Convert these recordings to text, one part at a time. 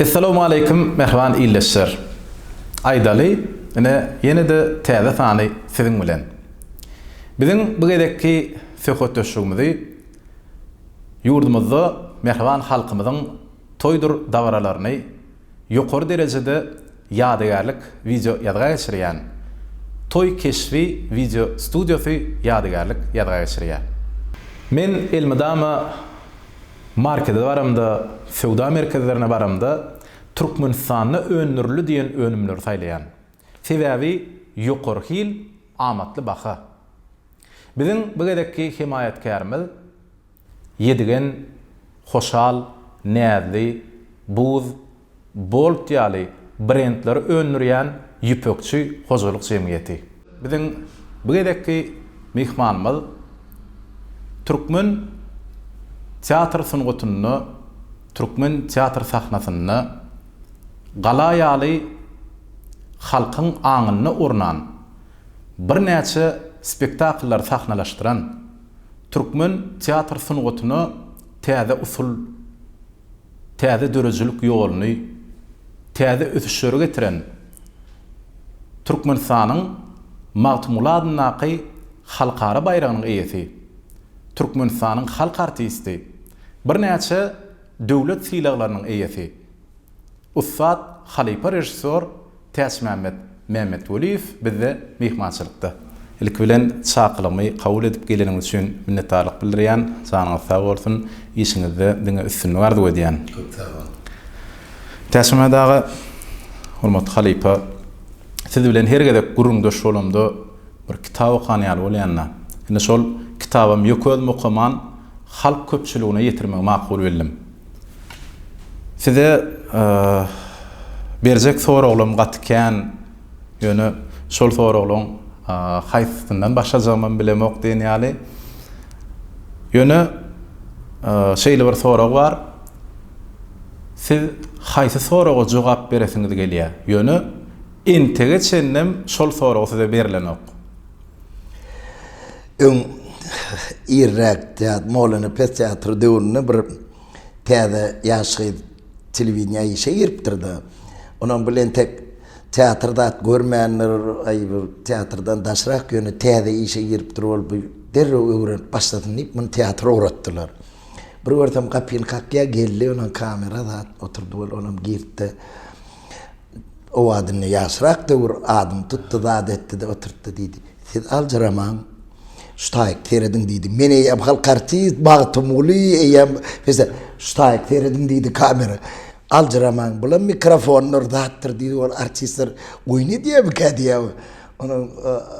Essalawmaleýkim mähriban ildeşler. Aýdaly, ine ýene-de täze sany siziň bilen. Biziň bu gezekki söhbetdeşligimizi ýurdumyzda mähriban halkymyzyň toýdur dabaralaryny ýokary derejede ýadygärlik wideo ýazga geçirýän Toý keşbi wideo studiýasy ýadygärlik ýazga geçirýär. Men elmydama markede baramda, söwda merkezlerine baramda Türkmenistanda öndürildi diýen önümleri saýlaýan. Sebäbi ýokary hil, amatly baha. Biziň bu gezekki hemaýatkärimiz Ýedigen, Hoşal, Näzli, Buz, Bolt ýaly brendleri öndürýän ýüpekçi hojalyk jemgyýeti. Biziň bu gezekki myhmanymyz türkmen teatr sungatynda, türkmen teatr sahnasynda gala ýaly halkyň aňynda ornan, birnäçe spektakllary sahnalaşdyran, Türkmen teatr sungatyna täze usul, täze döredijilik ýoluny, täze ösüşleri getiren Türkmenistanyň Magtymguly adyndaky halkara baýragynyň eýesi, Türkmenistanyň halk artisti, birnäçe döwlet sylaglarynyň eýesi, ussat halypa režissýor Täçmämmet Mämmetweliýew bizde myhmançylykda. Ilki bilen çakylygymy kabul edip geleniňiz üçin minnetdarlyk bildirýän, janyňyz sag bolsun, işiňizde diňe üstünlik arzuw edýän. Köp sag bol. Täçmämmet aga, hormatly halypa, siz bilen her gezek gürrüňdeş bolamda bir kitap okan ýaly bolýanda, indi şol kitabam ýökezim okaman halk köpçüligine ýetirmegi makul bildim. Size berjek soraglarym gaty kän, ýöne şol soraglaryň haýsysyndan başlajagymam bilemok diýen ýaly. Ýöne şeýle bir sorag bar, siz haýsy soraga jogap beresiňiz gelýär, ýöne entege çenlem şol sorag size berlenok. Öň irräk teatr, Molana pes teatry döwründe bir täze ýaş gyz telewideniýä işe giripdir-de, onuň bile entek teatr zat görmändir, aý bir teatrdan daşrak, ýöne täze işe giripdir ol, bu derrew öwrenip başlasyn diýip, muny teatr ugratdylar. Bir görsem gapyny kakýar, geldi, onuň kamera zat oturdy, ol onam girdi-de, o adynda ýaşrak döwür adyny tutdy, zat etdi-de oturtdy diýdi. Siz aljyramaň, şutaýyk serediň diýdi. Men eýýäm halk artist Magtymguly, eýýäm Mesela, şutaýyk serediň diýdi kamera. Aljyramaň, bulam mikrofondyr, zatdyr diýdi, ol artistler oýun edýärmikä diýýär. Onuň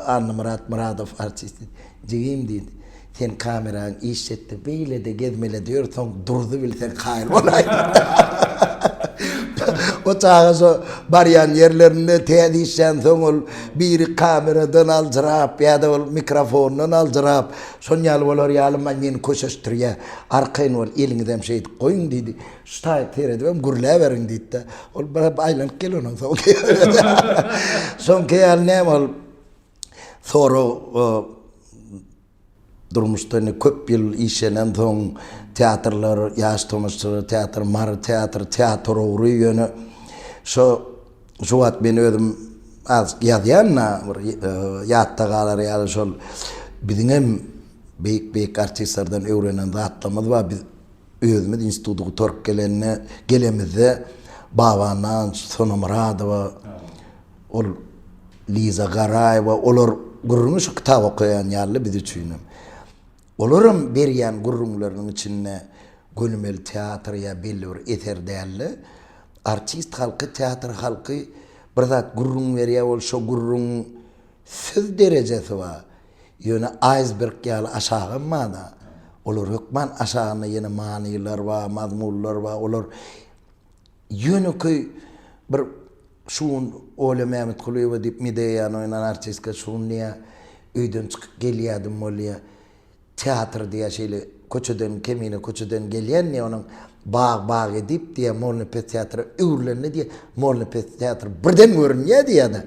Annamyrat Myradow artist diýdi. Jigim diýdi. Sen kameraň işjetdi beýlede gezmelede ýör soň durdy bil sen kaýyl bolaýyň. O çaga şo barýan ýerlerinde täze işlän soň ol biri kameradan aljyrap ýada ol mikrofondan aljyrap şon ýaly bolar ýaly maý meni köşeşdirýä arkaýyn bol eliňizem şeýdip goýuň diýdi şu taýyp seredibem gürläberiň diýdida ol bir aýlanyp gel onuň soňky ýaly näme ol Sorag, Durmuşda indi köp ýyl işlenen soň, teatrlar, ýaş tomaşaçylar teatry, Mary teatry, teatr ugry ýöne şo şu wagt men özüm az ýazýan-da, bir ýatda galar ýaly şol biziň hem beýik-beýik artistlerden öwrenen zatlarymyz bar. Biz özümiz instituty gutaryp gelende, gelemizde Baba Nanç, Sona Myradowa, Ol Liza Garaýewa olar gürrüňi şu kitap okaýan ýaly biz üçinem. Olaram berýän gürrüňleriniň içinde gönümel teatr ýa belli bir eser däl-de, artist halky, teatr halky bir zat gürrüň berýär, ol şo gürrüň söz derejesi bar, ýöne aýsberg ýaly aşagam bar-da, olar hökman aşagynda ýene manylar bar, mazmunlar bar, olar. Ýönekeý bir şu gün Olýa Mämmetgulyýewa diýip Medeýany oýnan artistka şu gün diýýär, öýden çykyp gelýärdim bolýa, teatr diýýär şeýle köçeden, Kemine köçeden gelýän diýýär, onuň bag bag edip diýýär, Molnepes teatra öwrülende diýýär, Molnepes teatry birden görünýär diýýär-de,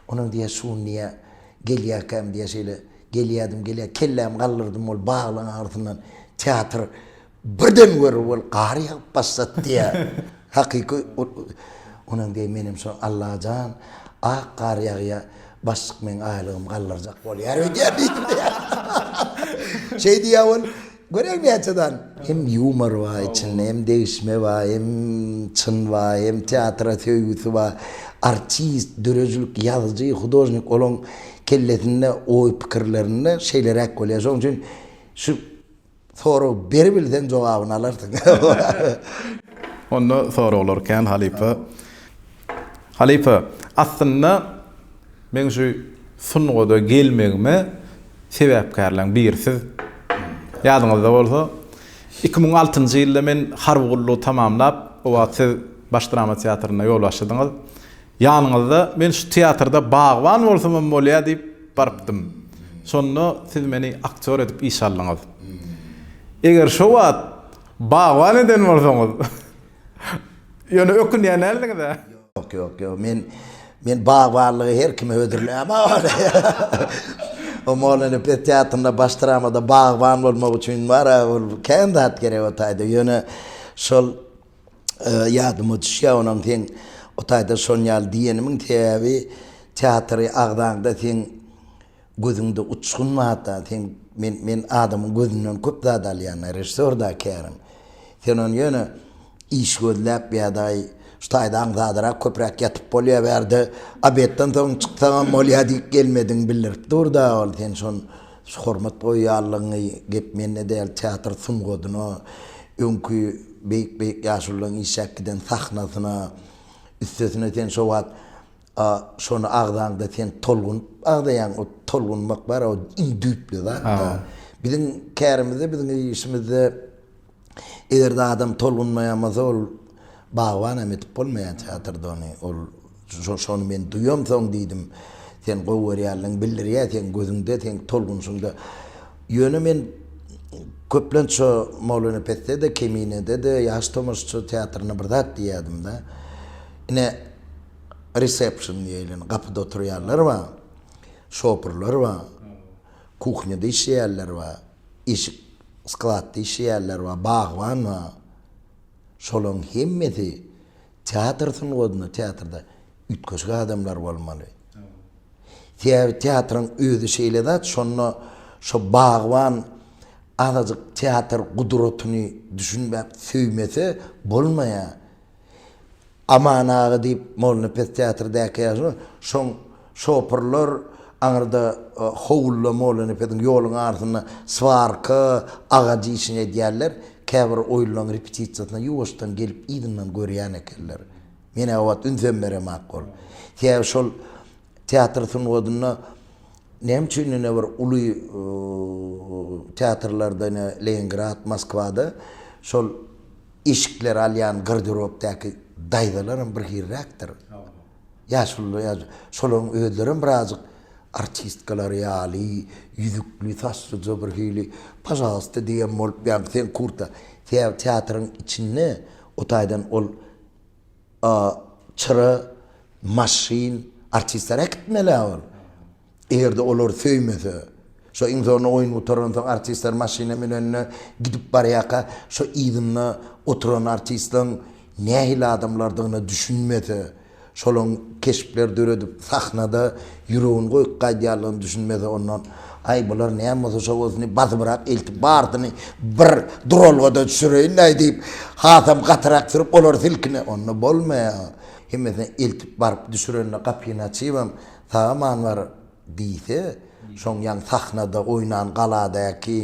onuň diýýär şu gün diýýär gelýärkäm diýýär şeýle gelýärdim gelýär kellämi galdyrdym ol baglyň agyrysyndan teatr Birden görür bol gar ýagyp başlady diýä. Hakyky Onam deý menem şo Allajan ak gar ýagýa başlyk meň aýlygym galdyrjak bolýar öýdýän diýip. Şeý diýä ol göräý näçe dan. Hem ýumor bar içinde hem degişme bar hem çyn bar hem teatra söýgüsi bar. Artist, döredijilik ýazyjy, hudožnik olaň kellesinde oý pikirlerinde şeýleräk bolýar. Şoň üçin şu Sorag ber bilseň jogabyny alarsyň. Onda soraglar kän halypa. Halypa, aslynda meň şu sungada gelmegime sebäpkärleň biri siz. Ýadyňyzda bolsa, iki müň altynjy ýylda men harby gullugy tamamlap, o wagt siz Baş drama teatrynda ýolbaşçydyňyz. Ýanyňyzda men şu teatrda bagban bolsamam bolýar diýip, Barypdym. Şonda siz meni aktýor edip işe aldyňyz. Eger şo wagt bagban eden bolsaňyz, ýöne ökünýän däldiňiz-ä? Ýok, ýok, ýok. Men, men bagbanlygy her kime hödürläýmok ony. O Mollanyň pes teatrynda baş dramada bagban bolmak üçin bar-a, ol kän zat gerek o taýda. Ýöne şol. Ýadyma düşýär onam seň o taýda şon ýaly diýenimiň sebäbi teatry agzaňda seň gözüňde uçgun mata seň men men adamyň gözünden köp zat alýan režissýor da käriň sen ony ýöne iş gözläp ýadaý şu taýda aňsatrak köpräk ýatyp bolýar bärde obedden soň çyksagam bolýar diýip gelmediň bildirip dur da ol sen şon Şu hormat goýýanlygyňy gep mende däl, teatr sungadyna, öňki beýik-beýik ýaşulularyň işäp giden sahnasyna, üstesine sen şo wagt şony agzaňda sen tolgunyp agzaýaň, o tolgunmak bar-a, o iň düýpli zat-da. Biziň kärimizde, biziň işimizde Eger-de adam tolgunmaýan bolsa, ol bagban hem edip bolmaýar teatrda ony. Ol şony men duýam soň diýdim. Sen gowy görýänligiň bildirýär seň gözüňde, seň tolgunşyňda. Ýöne men köplenç şo Molynepesde-de, Keminede-de, Ýaş tomaşaçylar teatrynda bir zat diýýärdim-de. Ine, resepsiýon diýeli, ine, gapyda oturýanlar bar, şoperler bar, kuhnýada işleýänler bar. eşik skladda işleýärler bar, bagban bar. Şolaryň hemmesi teatr sungatyna, teatrda üýtgeşik adamlar bolmaly. Sebäbi teatryň özi şeýle zat, şonda şo bagban azajyk teatr gudratyny düşünmän söýmese bolmaýar. Aman aga diýip, Molnepes teatrdäki ýaşuly, şoň şopurlar aňyrda howluda Molnepesiň ýoluň arsynda Swarka aga diýşini edýärler. Käbir oýunlaryň repetisiýasyna ýuwaşdan gelip yzyndan görýän ekenler. Men-ä o wagt ünsem beremak bolup. Sebäbi şol teatr sungatynda näme üçin ine bir uly teatrlarda ine Leningrad, Moskwada şol Eşikleri alýan garderobdaky daýzalaram bir hyrrakdyr. Ýaşulylar, şolaryň özlerem birazajyk artistkalar ýaly, ýüzükli, saçlyja bir hili, pažalsta diýen bolup, ýaňky seň kurta, sebäbi teatryň içinde o taýdan ol çyra, maşyn, artistler äkitmeli-ä ol. Eger-de olar söýmese, şo iň zoruna oýun gutaransoň artistler maşyna münende gidip barýarka şo yzynda oturan artistleň nähili adamlardygyna düşünmese, şolaň keşpler döredip sahnada ýüregini goýup gaýdýarlygyna düşünmese ondan Aý bular näme bolsa şo bolsuny basybyrak eltip barsyny bir duralgada düşüreýin-däý diýip hasam gatyrak sürüp olar silkine onda bolmaýar. Hemmesine eltip baryp düşürende gapyny açybam Saga man bar diýse şoň ýan sahnada oýnan galadäki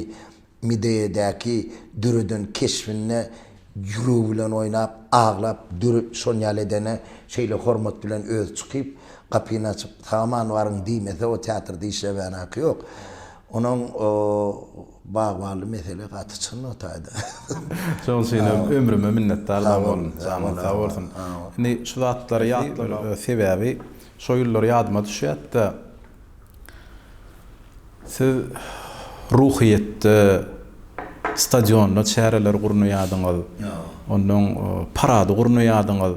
Mideýedäki döreden keşbinde ýüregi bilen oýnap aglap döre şon ýaly edene şeýle hormat bilen özi çykyp gapyny açyp saga man baryň diýmese o teatrda işlemän haky ýok onuň o bagbally mesele gaty çyn o taýda. Şoň üçin hem ömrüme minnetdar bolun janyň sag bolsun indi şu zatlary ýatlamak sebäbi Şo ýyllar ýadyma düşýärdi-de, siz Ruhyýetde, stadionda çäreler gurnaýardyňyz. Onnoň parady gurnaýardyňyz.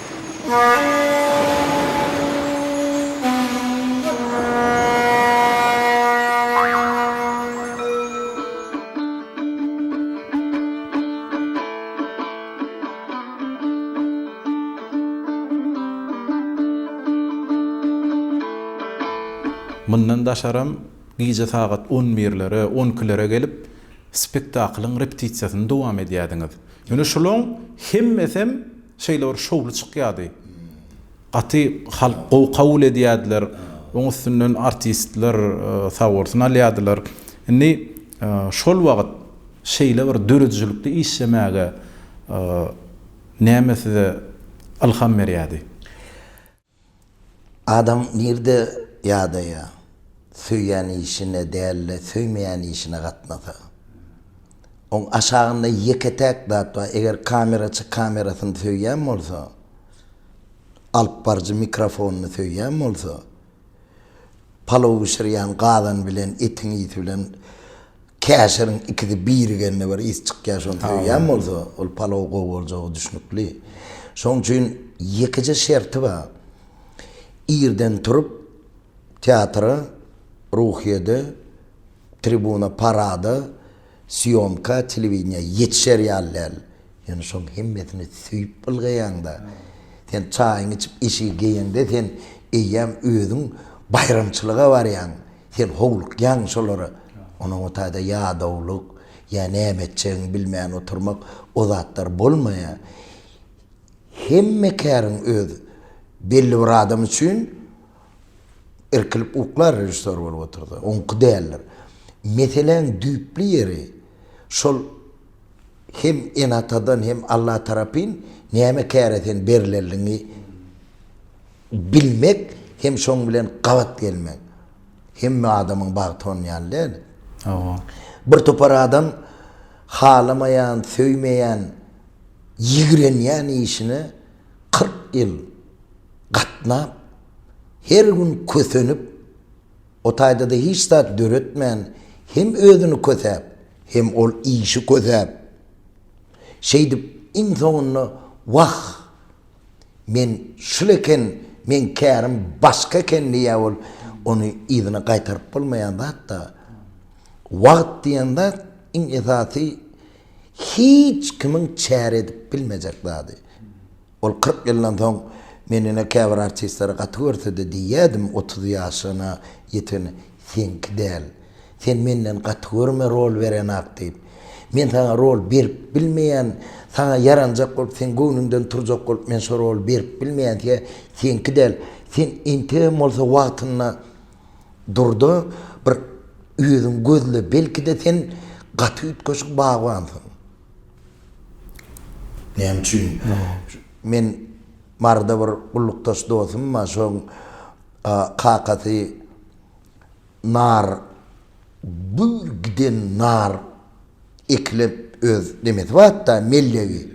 Mundan daşaram, gije sagat on birlere, on ikilere gelip, spektaklyň repetisiýasyny dowam edýärdiňiz. Ýöne şulaň hemmesem Şeýle bir şowly çykýardy. Gaty halk gowy kabul edýärdiler. Oň üstünden artistler sag bolsun alýardylar. Indi şol wagt şeýle bir döredijilikli işlemäge näme size ylham berýärdi? Adam nirde ýadaýa, söýýän işine dälde söýmeýän işine gatnasa. Oň aşagynda ýeke täk zat bar eger kameraçy kamerasyny söýýän bolsa, alyp baryjy mikrofonyny söýýän bolsa, palow bişirýän gazan bilen etiň ysy bilen Käşiriň ikisi birigende bir ys çykýar şony söýýän bolsa ol palow gowy boljagy düşnükli. Şoň üçin ýekeje şerti bar. Irden turup teatra, Ruhyýede, tribuna, parada, sýomka, telewideniýä ýetişer ýaly däl. Ýöne şoň hemmesini söýüp ylgaýaňda, sen çaýyňy içip eşigi geýeňde sen eýýäm özüň baýramçylyga barýaň. Sen howlukýaň şolara. Onuň o taýda ýadawlyk, ýa näme etjegini bilmän oturmak, o zatlar bolmaýar. Hemme käriň öz belli bir adam üçin irkilip uklar režissýor bolup otursa, oňky däldir. Meseläň düýpli ýeri şol. hem ene-atadan hem Alla tarapyn näme käre sen berileniňi bilmek hem şoň bilen gabat gelmek. Hemme adamyň bagty onuň ýaly däl. Hawa. Bir topar adam halamaýan, söýmeýän, ýigrenýän işine kyrk ýyl gatnap, her gün kösenip, O taýda-da hiç zat döretmän, hem özüni kösäp, hem ol işi kösäp, şeýdip, iň soňunda, Wah, men şul eken, meň kärim başga eken diýýär ol. Ony yzyna gaýtaryp bolmaýan zat-da. Wagt diýen zat, iň esasy, hiç kimiň çäre edip bilmejek zady. Ol kyrk ýyldan soň Men ine käbir artistleri gaty görsede diýýädim otuz ýaşyna ýetene Seňki däl. Sen menden gaty görme rol berenok diýip. Men saňa rol berip bilmeýän saňa ýaranjak bolup seň göwnüňden turjak bolup men şo roly berip bilmeýän siňe seňki däl. Sen entegem bolsa wagtynda durda bir özüňi gözle belkide sen gaty üýtgeşik bagbansyň. Näme üçin? Men Maryda bir gullukdaş dostum bar, şoň kakasy nar gül giden nar ekilip öz nemesi barda mellegi.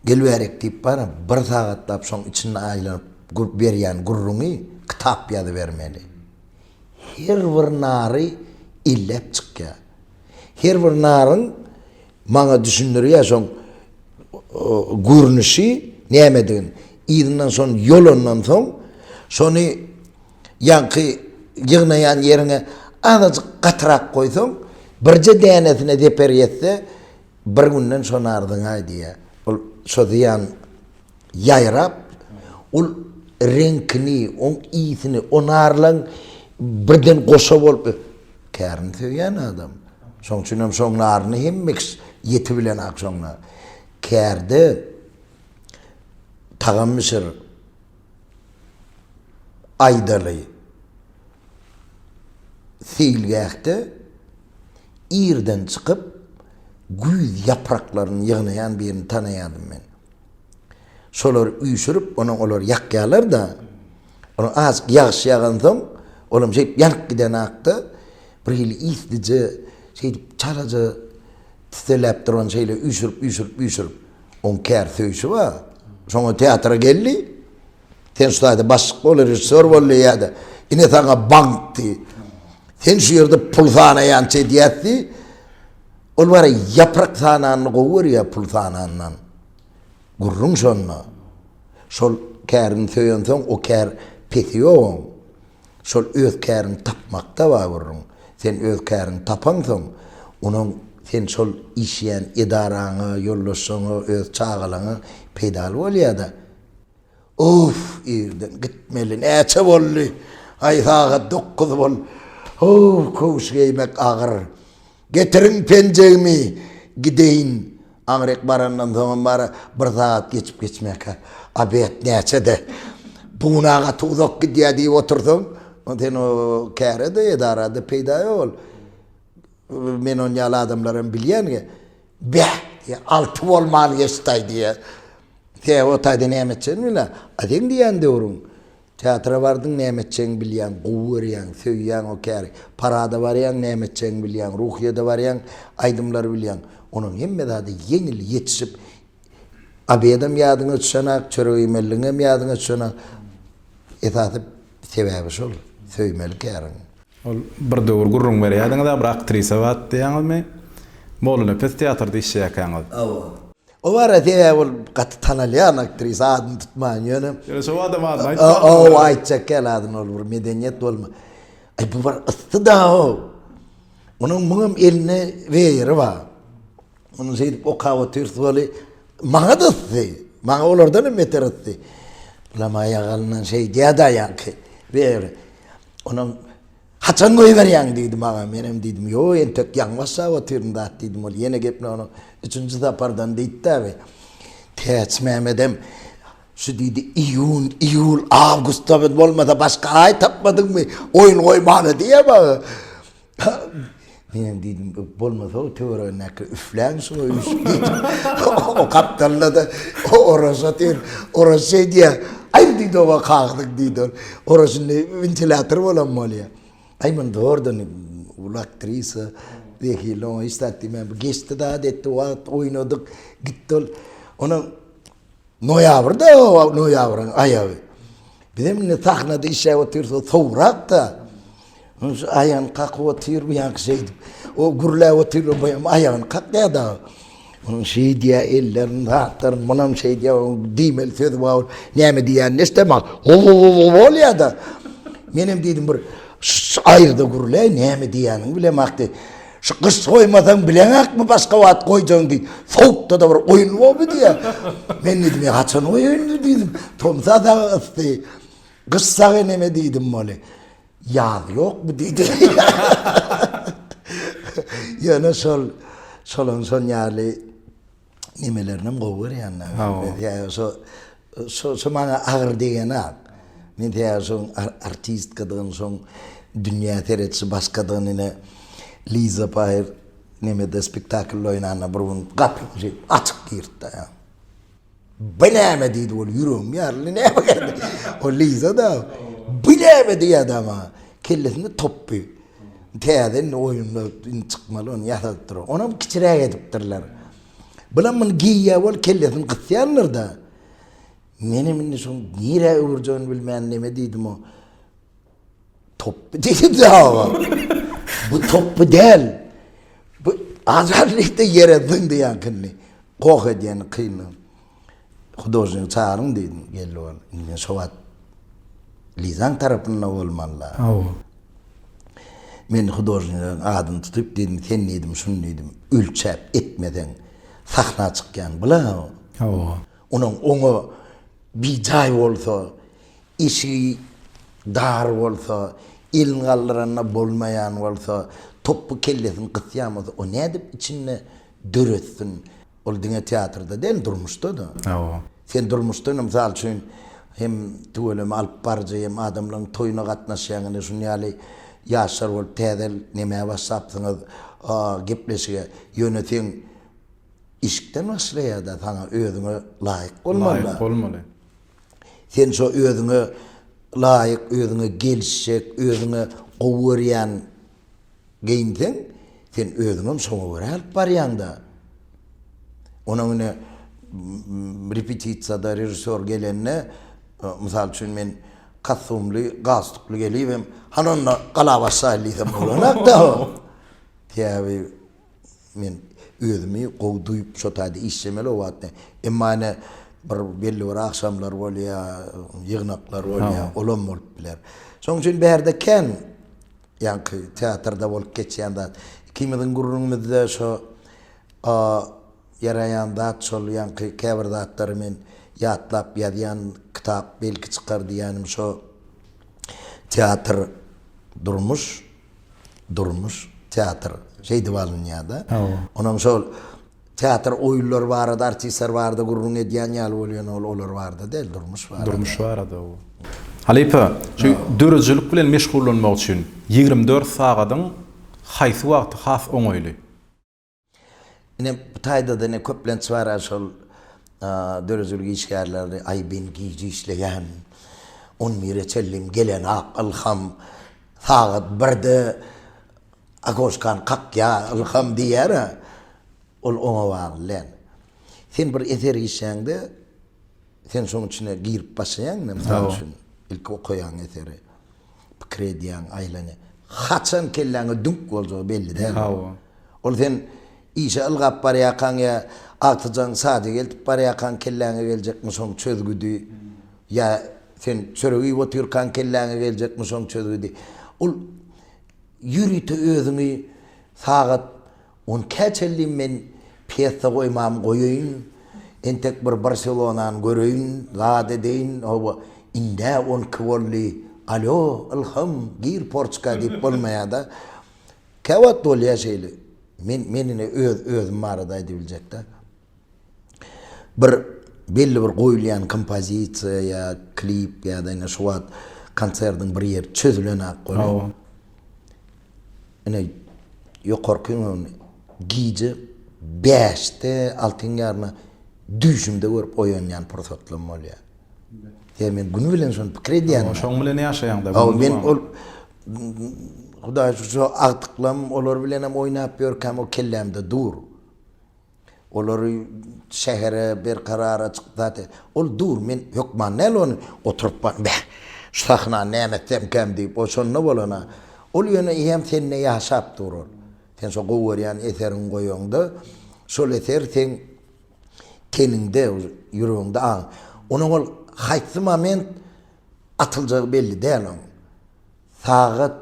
Gel bärik diýip baram, bir sagatlap şoň içinde aýlanyp gürp berýän gürrüňi kitap ýazybermeli. Her bir nary elläp çykýar. Her bir naryň maňa düşündirýär şoň görnüşi nämedigini. Yzyndan şony ýolandan soň, şony ýaňky ýygnaýan ýeriňe azajyk gatyrak goýsaň, birje dänesine zeper ýetse, bir günden şony arzyňaý diýýär. Ol şo zyýan ýaýrap, ol reňkini, oň ysini, o narlaň birden goşa bolup, kärini söýýän adam. Şoň üçin hem şoň naryny hemme kişi ýeti bilen ak şoň nar. Kärde tagam bişir, aýdaly, seýilgähde irden çykyp, güýz ýapraklaryny ýygnaýan birini tanaýardym men. Şolary üýşürip, onuň olary ýakýarlar-da. Onuň azajyk ýagyş ýagansoň, olam şeýdip ýanyp gidenakda, bir hili islije, şeýdip çalaja tiseläp duran şeýle üýşürip, üýşürip, üýşürip. Oň käri söýşi bar. Şoňa teatra geldi. Sen şu taýda başlyk bol, režissýor bol diýýär-de, ine saňa bank diý. Sen şu ýerde pul sanaýan çeýdýäs diý. Ol bary ýaprak sananyny gowy görýär pul sanandan. Gürrüň şonda. Şol kärini söýensoň o kär pesi ýok oň. Şol öz käriňi tapmakda bar gürrüň. Sen öz käriňi tapaňsoň, onuň sen şol işleýän edaraňa, ýoldaşlaryňa, öz çagalaňa peýdaly bolýar-da. Uff irden gitmeli näçe boldy aý sagat dokuz bol howw köwüş geýmek agyr getiriň penjegimi gideýin aňryk barandan soňam bara bir sagat geçip geçmäkä obed näçede buna gaty uzak gidýä diýip otursaň onda sen o kärede edarada peýda ýok ol men on ýaly adamlaram bilýän. Beh, diýýär, alty bolman geçdi-aý, diýýär. He, otaýda näme etjegini bilýän. A seň diýýän döwrüň, teatra bardyň, näme etjegiňi bilýäň, gowy görýäň, söýýäň o käri. Parada barýaň, näme etjegiňi bilýäň, Ruhyýede barýaň, aýdymlary bilýäň. Onuň hemme zady ýeňil, ýetişip, obedem ýadyňa düşenok, çörek iýmelligiňem ýadyňa düşenok. Esasy, Sebäbi şol, söýmeli käriň. Ol bir döwür gürrüň berýärdiňiz-ä, bir aktrisa bar diýýäňizmi? Mollanepes teatrda işleýärkäňiz. Hawa. O bar-a, sebäbi ol gaty tanalýan aktrisa, adyny tutmaýyn ýöne. Ýöne şo adam adyny aýtmaň. Hawa, aýtjak däl adyny, ol bir medeniýet bolma. Aý, bu bir ysy-da-ow. Onuň muňam elinde weýeri bar. Ony şeýdip okap otyrys weli, maňa-da ysdy. Maňa olardan hem beter ysdy. Lam aýagalyndan şeýdýärdi aýaňky. Ber. Onuň Haçan goýberýäň diýdi maňa. Menem diýdim, ýo, entek ýaňy başlap otyryn zat diýdim. Ol ýene gepini onuň üçünji sapardan diýdi-de bi. Täç Mämedem şu diýdi, iýun, iýul, awgustda biz bolmasa başga aý tapmadyňmy, oýun goýmaly diýýär maňa. Menem diýdim, bolmasa-u töweregindäkiler üfläň şuňa üýşüp diýdim. O gapdalda-da Oraz otyr. Oraz şeý diýýär, Aý, diýdi, oba kakdyk diýdi ol. Oraz indi wentilýator bolan bolýar. Aý, muny dogrudan uly aktrisa, zehirli oňa hiç zat diýmän, bu geçdi-de, ady etdi, wagt oýnadyk, gitdi ol. Onam Noýabrda, noýabryň aýagy. Biz hem indi sahnada işläp otyrys, sowrak-da. Şu aýagyny kakyp otyr, bu ýaňky şeýdip. O gürläp otyr, bu hem aýagyny kakýar-da. Onuň şeýdýär, ellerini zatlar, munam şeýdýär, diýmeli sözi bar. Näme diýýänini eşidemok. Bolýar-da. Menem diýdim bir aýyrda gürläý, näme diýýänini bilemok diýip. Şu gyş soýmasaň bileňakmy başga wagt goýjagyň diýip, sowukda-da bir oýun boldy diýýär. Men diýdim, haçan oýun diýdim, tomsa dagy ysdy, gyş sag eneme diýdim weli. Ýaz ýokmy diýdi. Ýöne şol, şolaň şon ýaly. nemelerinem gowy görýänler. Ýa şo şo şo maňa agyr degeni-ak. Men tä şoň artistkadygyny, şoň dünýä seretişi başgadygyny ine Liza Paýew nemede spektaklda oýnanda bir gün gapyny şeýdip açyk girdi-de. Bu näme diýdi ol ýüregim ýaryldy. Näme geldi? O Liza-da. Bu näme diýýär-de maňa. Kellesinde topby. Täze indi oýunda indi çykmaly ony ýasadyp durarlar. Onam kiçiräk edipdirler. Bulam muny geýýä bolup kellesini gysýarlar-da. Menem indi şoň nirä öwürjegini bilmän neme diýdim-o. Topby diýdim-de aga. Bu topby däl. Bu azarlyk-da ýere zyňdy ýaňkyny. Goh edýäni kynly. Hudožnigi çagyryň diýdim. Geldi ol. Indi men şo wagt Lizaň tarapynda bolmaly-la. Hawa. Men hudožnigiň adyny tutup diýdim, sen diýdim, şuny diýdim, ölçäp etmeseň, sahna çykýan bu-la. Hawa. Onuň oňa bijaý bolsa, eşigi dar bolsa, elini galdyranda bolmaýan bolsa, topby kellesini gysýan bolsa, o nädip içinde döretsin? Ol diňe teatrda däl, durmuşda-da. Hawa. Sen durmuşda-da, mysal üçin, hem tüweleme alyp baryjy, hem adamlaryň toýuna gatnaşýaň, ine, şunuň ýaly ýaşlar bolup, täze nämä başlapsyňyz gepleşige. Ýöne seň işikden başlaýar-da, saňa özüňe laýyk bolmaly. Laýyk bolmaly. Sen şo özüňe laýyk, özüňe gelişjek, özüňe gowy görýän. Geýinseň, sen özüňem şoňa görä alyp barýaň-da. Onuň ine, repetisiýada režissýor gelende, mysal üçin, men kostumly, galstukly gelibem, Hany onda galabaş saýyl diýsem bolanok-da. Sebäbi. Men özümi gowy duýup şo taýda işlemeli o wagtda. Emma ine bir belli bir agşamlar bolýar, ýygnaklar bolýar, olam bolup biler. Şonuň üçin bärde kän ýaňky teatrda bolup geçýän zat. Ikimiziň gürrüňimizde şo ýaraýan zat şol ýaňky käbir zatlary men ýatlap ýazýan kitap belki çykar diýýänim şo teatr durmuş. Durmuş, teatr şeýdip alynýar-da. Hawa. Onuň şol teatr oýunlary barada, artistler barada gürrüň edýän ýaly bolýan ol olar barada däl, durmuş barada. Durmuş barada bu. Halypa, şu döredijilik bilen meşgullanmak üçin ýigrimi dört sagadyň haýsy wagty has oňaýly? Ine, bu taýda-da ine köplenç bar-a şol döredijilik işgärleri, aý men gije işleýän, on bire çenlem gelenok, ylham sagat birde okoşkany kakýar, ylham diýýär-ä. Ol oňa bagly däl. Sen bir eser işlände, Sen şoň içine girip başlaýaň ne mysal üçin ilki okaýaň eseri pikir edýäň aýlany haçan kelläňe düňk boljagy belli däl hawa ol sen işe ylgap barýakaň ýa agtyjaň saja geltip barýakaň kelläňe geljekmi şoň çözgüdi ýa sen çörek iýip otyrkaň kelläňe geljekmi şoň çözgüdi ol ýörite özüňi sagat Onkä çenli men pýesa goýmam goýaýyn, entek bir Barselonany göreýin, zat edeýin, hawa, ind-ä on iki boldy, alýo, Ylham, gir porçka diýip bolmaýa-da. Käwagt bolýa şeýle. Men, men ine öz, özüm barada aýdybiljek-dä. bir belli bir goýulýan kompozisiýa ýa klip ýa-da ine şu wagt konsertiň bir ýeri çözülenak bolýar. Hawa. Ine ýokarky gün gije bäşde, altyň ýaryna düýşümde görüp oýanýan pursatlarym bolýar. Sebäbi men güni bilen şony pikir edýän. Hawa, şoň bilen ýaşaýaňda. Hawa, men ol Hudaýa şükür, şo agtyklarym, olar bilenem oýnap ýörkäm o kellämde dur. Olary şähere berkarar açyk zat e. Ol dur, men hökman näl ony oturyp bar, beh, şu sahnany näme etsemkäm diýip, o şonda bolan-a. Ol ýöne eýýäm sende ýaşap dur ol. Sen şo gowy görýän eseriňi goýaňda, şol eser seň teniňde, uje, ýüregiňde aň. Onuň ol haýsy moment atyljagy belli däl oň. Sagat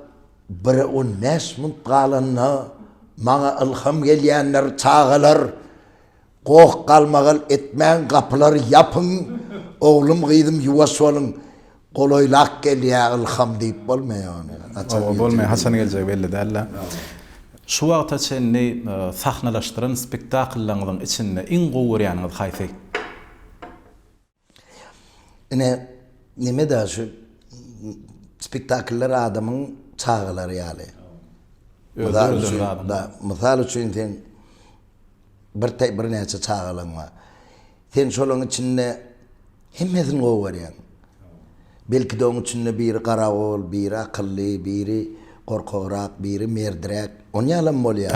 bire on bäş munt galanda maňa ylham gelýändir, Çagalar, goh-galmagal etmäň, gapylary ýapyň, oglum-gyzym ýuwaş boluň, golaýlak gelýä ylham diýip bolmaýa ony. Haçan geljegi belli däl. Oba bolmaýa, haçan geljegi belli däl-dä. Şu wagta çenli sahnalaşdyran spektakllaryňyzyň içinde iň gowy görýäniňiz haýsy? Ine, neme-de şu spektakllar adamyň çagalary ýaly. Mysal üçin, mysal üçin sen bir birnäçe çagalaň bar. Sen şolaryň içinde hemmesini gowy görýäň. Belki-de oň içinde biri garagol, biri akylly, biri gorkagrak, biri merdiräk. Onýalam bolýar.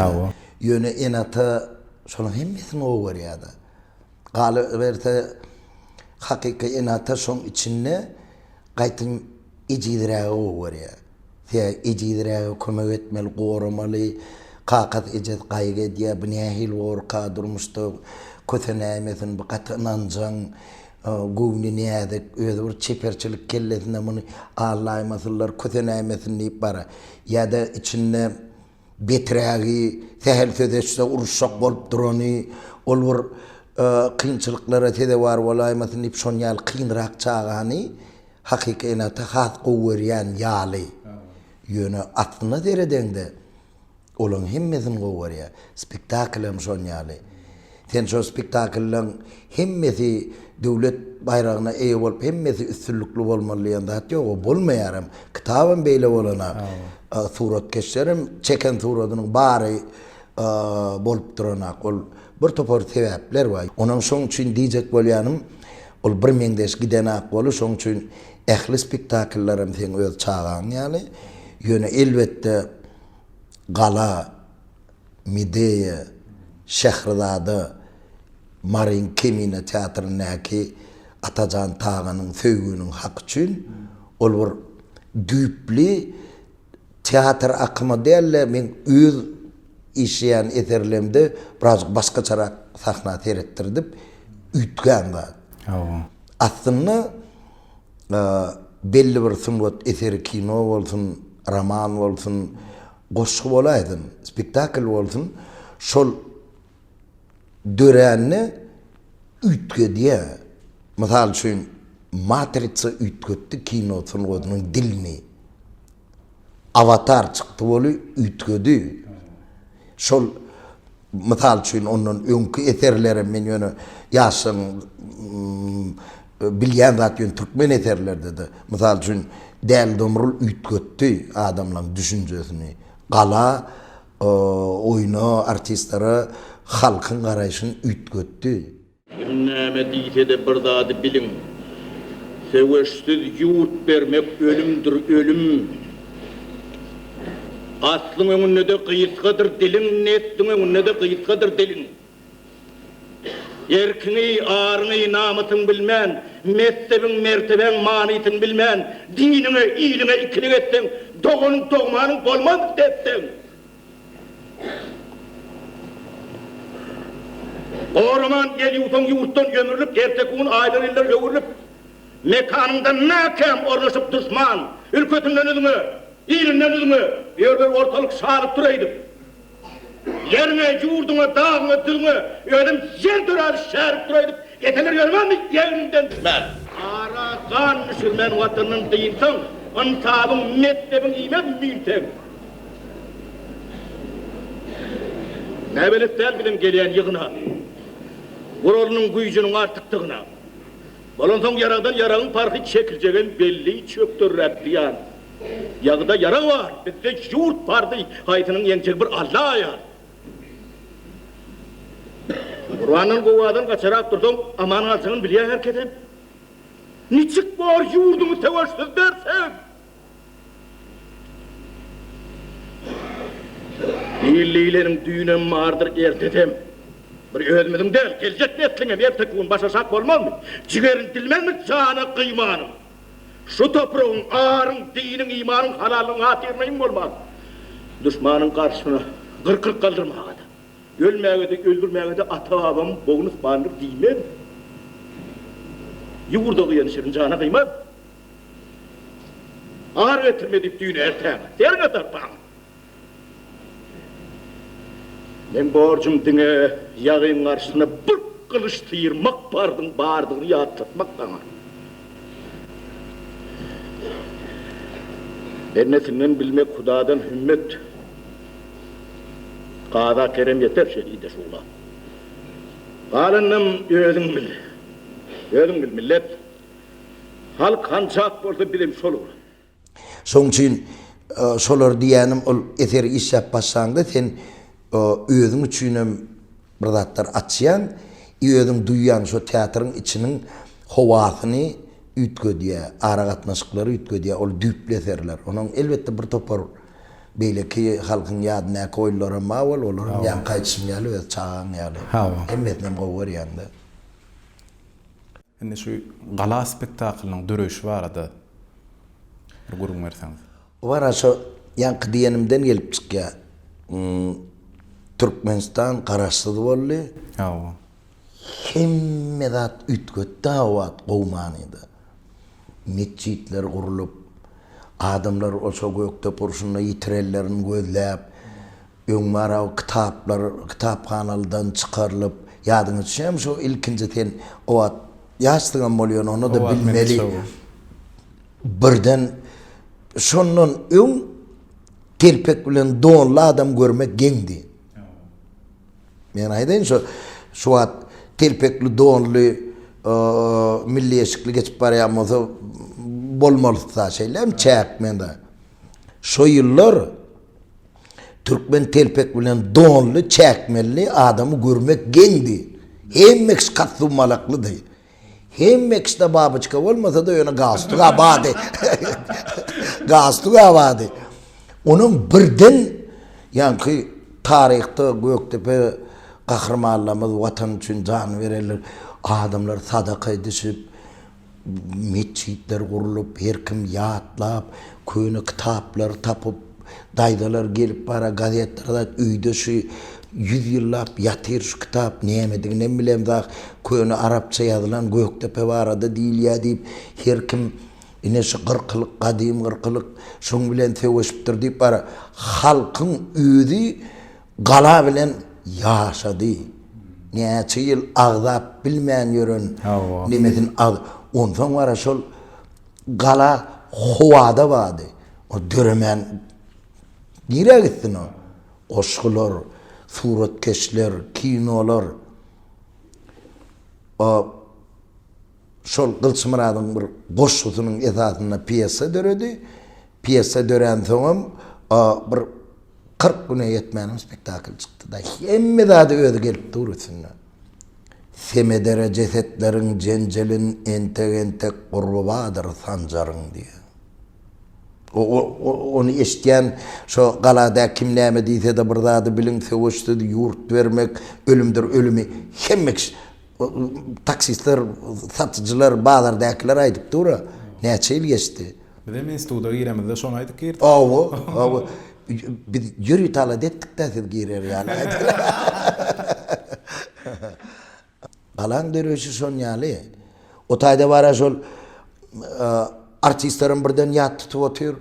Ýöne ene-ata şolaryň hemmesini gowy görýär-de. Galyberse, hakyky ene-ata şoň içinde gaýtam ejizrägi gowy görýär. Sebäbi ejizräge kömek etmeli, goramaly. Kakasy-ejesi gaýgy edýär, bu nähili gorka, durmuşda kösenäýmesin, bu gaty ynanjaň, göwni näzik, özi bir çeperçilik kellesine muny allaýmasynlar, kösenäýmesin diýip barar. Ýa-da içinde. Beträgi, sähel söz eşitse uruşjak bolup durany, ol bir kynçylyklara sezewar bolaýmasyn diýip şon ýaly kynrak çagany hakyky ene ata has gowy görýän ýaly. Ýöne aslyna seredeňde olaň hemmesini gowy görýär. Spektakl hem şon ýaly. Sen şo spektakllaň hemmesi döwlet baýragyna eýe bolup hemmesi üstünlikli bolmaly diýen zat ýok o bolmaýar hem kitabam beýle bolana suratkeşlerem çeken suradynyň bary bolup duranak ol bir topar sebäpler bar onam şoň üçin diýjek bolýanym ol bir meňzeş gidenak bolu şoň üçin ähli spektakllaram seň öz çagaň ýaly ýöne elbetde gala Medeýa, Şährizada, Maryň Kemine teatryndaky Atajan Taganyň Söýginiň haky üçin ol bir düýpli teatr akymy däl-de, meň öz işleýän eserlerimde birazajyk başgaçarak sahna seretdirdip üýtgän zat. Aslynda belli bir sungat eseri kino bolsun, roman bolsun, Goşgy bolaýsyn, spektakl bolsun, şol dörände üýtgedýär. Mysal üçin, Matrica üýtgetdi kino sungatynyň dilini. Awatar çykdy bolup üýtgedi. Şol. Mysal üçin, ondan öňki eserlerem men ýöne ýaşlaryň bilýän zat ýöne türkmen eserlerdede, mysal üçin, Däli Domrul üýtgetdi adamlaryň düşünjesini. Gala oýna, artistlere halkyň garaýşyny üýtgetdi. Kim näme diýse-de bir zady biliň, söweşsiz ýurt bermek ölümdir, ölüm! Aslyň öňünde-de gysgadyr diliň, nesliň öňünde-de gysgadyr diliň! Erkiňi, aryňy, namysyňy bilmän, mezhebiň, mertebäň manysyny bilmän, diniňe, iliňe ikilik etseň, dogan-dogmanyň bolmaz depseň, Goraman el ýuwsaň ýurtdan ömürlik erteki gün aýlar ýyllar öwrülip mekanyňdan mäkäm ornaşyp duşman ülkesinden üzňe ilinden üzňe ýörler ortalyk şalypdyr öýdüp ýeriňe ýurduňa dagyňa düzüňe özem ýer döräzip şäripdir öýdüp eseler ýörmänmi ýegriňden düşmän ara gan düşürmän watanyny dynsaň ynsabyň mekdebiň iýmez müýntegiň. Näbelet däl biziň gelýän ýygyna. Guralynyň güýjüniň artykdygyna. Bolansoň ýaragdan ýaragyň parhy çekiljegem belli çökdürräk diýýän. Ýagyda ýarag bar, bizde ýurt bardy, haýsynyň ýeňjegi bir Alla aýan. Gurbandan gowadan gaçarak dursaň aman galjagyny bilýä herkesem. Niçik bor ýurduňy söweşsiz berseň? Hillileriň düýnem bardyr, ertesem. Bir özümiziň däl, geljek nesliňem erteki gün başaşak bolmazmy? Jigerin dilmezmi jana gyýmanyň? Şu topragyň, aryň, diniň, imanyň, halallygyň hatyryna iň bolmanda, duşmanyň garşysyna gyrkylyk galdyrmaga-da, ölmäge-de, öldürmäge-de ata-babam bogun yspandyr diýmezmi? Ýurda gyýan şirin jana gyýmazmy? Ar getirme diýip düýn erträm derňe sarpaň. Meň borjum diňe ýagyň garşysyna bir gylyç syýrmak parzyň bardygyny ýatlatmak saňa. Bennesinden bilmek hudadan hümmet. Kaza kerem ýeter şehide şugla. Galanynam özüň bil. Özüň bil millet. Halk hançak bolsa bizem şol bolar. Şoň üçin şolar diýýänim ol eseri işläp başlaňda sen özüň üçinem bir zatlar açýaň i özüň duýýaň şo teatryň içiniň howasyny üýtgedýär aragatnaşyklary üýtgedýär ol düýpli eserler onuň elbetde bir topar beýleki halkyň ýadyndaky oýlaram bar wol olaram ýaňky aýdyşym ýaly öz çagaň ýaly hemmesinem gowy görýäňdä. Indi şu Gala spektaklynyň döreýşi barada bir gürrüň berseňiz. Bu gara şo ýaňky diýenimden gelip çykýar. Türkmenistan garaşsyz boldy. Hawa. Hemme zat üýtgetdi o wagt gowy manyda. Metjitler gurlup, adamlar o şo Gökdepe urşunda ýitirenlerini gözläp, Öň bara kitaplar kitaphanalydan çykarylyp, ýadyňa düşýärmi şu ilkinji sen o wagt ýaşsyňam bolýan onda-da bilmeli. Birden şondan öň telpek bilen donly adam görmek geňdi. Men aýdaýyn şu şu wagt telpekli donly milli eşikli geçip barýan bolsa bolmalyda şeýlem çäk mende. Şo ýyllar Türkmen telpek bilen donly, çäkmelli adamy görmek geňdi. Hemmekş kat-dummalaklydy. Hemmekşde babyçka bolmasa-da, ýöne galstuk-a bady. Galstuk-a bady. Onam birden, ýaňky taryhda Gökdepe gahrymanlarymyz watan üçin jan berenler, adamlar sadaka edişip, Metjitler gurlup, her kim ýatlap, köne kitaplary tapyp, daýzalar gelip bara gazetleri daýyp, öýde şu ýüz ýyllap ýatyr şu kitap, nämediginem bilemzok, köne arapça ýazylan Gökdepe barada diýilýär diýip, her kim ine şu gyrkylyk, gadym gyrkylyk şoň bilen söweşipdir diýip bara halkyň özi Gala bilen ýaşady. Näçe ýyl agzap bilmän ýören nimesini ag Onsoň wara şol gala howada bardy. O döremän nirä gitsin o? Goşgular, suratkeşler, kinolar. O Şol Gylyçmyradyň bir goşgusynyň esasynda pýesa döredi. Pýesa döränsoňam, bir kyrk güne ýetmänem spektakl çykdy-da. Hemme zady özi gelip dur üstünde. Semedere jesetleriň jenjelin entek-entek gurbabadyr sanjaryň diýýär. Ony eşitýän şo galada kim näme diýse-de bir zady biliň, söweşsiz ýurt bermek ölümdir ölümi hemme kişi Taksistler, satyjylar, bazardakylar aýdyp dur-a. Näçe ýyl geçdi? Bizem instituta giremizde şony aýdyp girdik. Hawa, hawa. Biz ýörite alada etdik-dä siz girer ýaly Galaň döreýşi şonýaly. O taýda bar-a şol artistlerem birden ýat tutup otyr.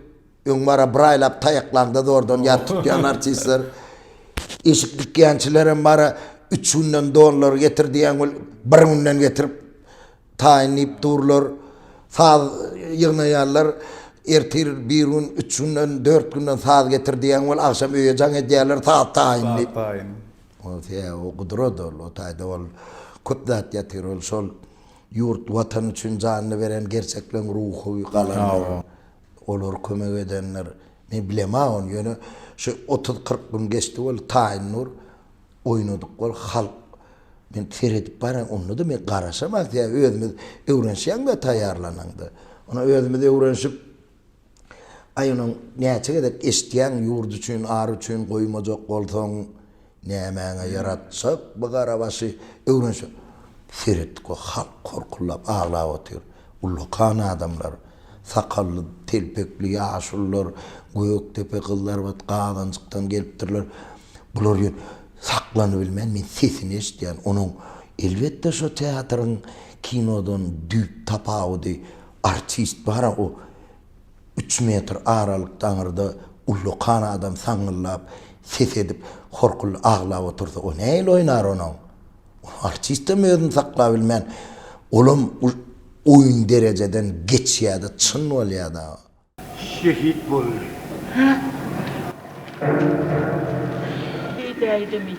Öň bara bir aýlap taýaklaňda zordan ýat tutýan artistler, eşik dikýänçilerem bara üç günden donlary getir diýýän weli bir günden getirip taýyn diýip durlar. Saz ýygnaýarlar, ertir bir gün, üç günden, dört günden saz getir diýýän weli agşam öýe jaň edýärler saz taýyn diýip. Saz taýyn. Ol se o gudrat ol, o taýda ol köp zat ýatyr ol şol ýurt, watan üçin janyny beren gerçekleň ruhy galan. Olar kömek edenler men bilema ony ýöne şu otuz kyrk gün geçdi boldy taýyn nur oýnadyk bol halk men seredip barýan onda da men garaşam az ýa özümiz öwrenişýäň we taýýarlanaňda ony özümiz öwrenişip aý onuň näçe gezek eşitýäň ýurt üçin ar üçin goýmajak bolsaň Nämäňe ýaratjak bu garabaşy öwrenşik. Seretdik we halk horkuldap aglap otyr. Ullakan adamlar, sakally, telpekli ýaşulylar, gökdepe gyzlarbat gazanjykdan gelipdirler. Bular ýöne saklanybilmän men sesini eşidýän. Onuň elbetde şo teatryň kinodan düýp tapawudy artist bara o Üç metr aralykda aňyrda ullakan adam saňňyldap, ses edip, horkuldy aglap otursa, o nähili oýnar onuň? Ol artistem özüni saklap bilmän, olam bir oýun derejeden geçýär-de, çyn bolýar-da. Şehit boldy. Diýdäýdimi?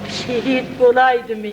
Şehit bolaýdymy?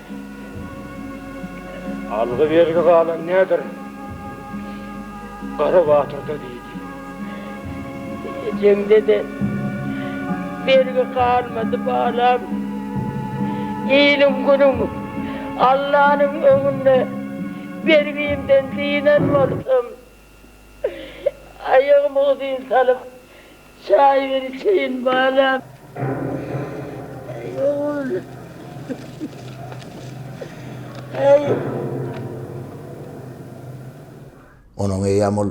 Algy-bergi galan näder Gara batyrda diýdi. Ejemde-de bergi galmady, balam. Iliň-günüň, Allanyň öňünde bergimden dynan bolsam, Aýagymy uzyn salyp, çaý bir içeýin balam. Äý, ogul. Äý. Onuň eýýäm ol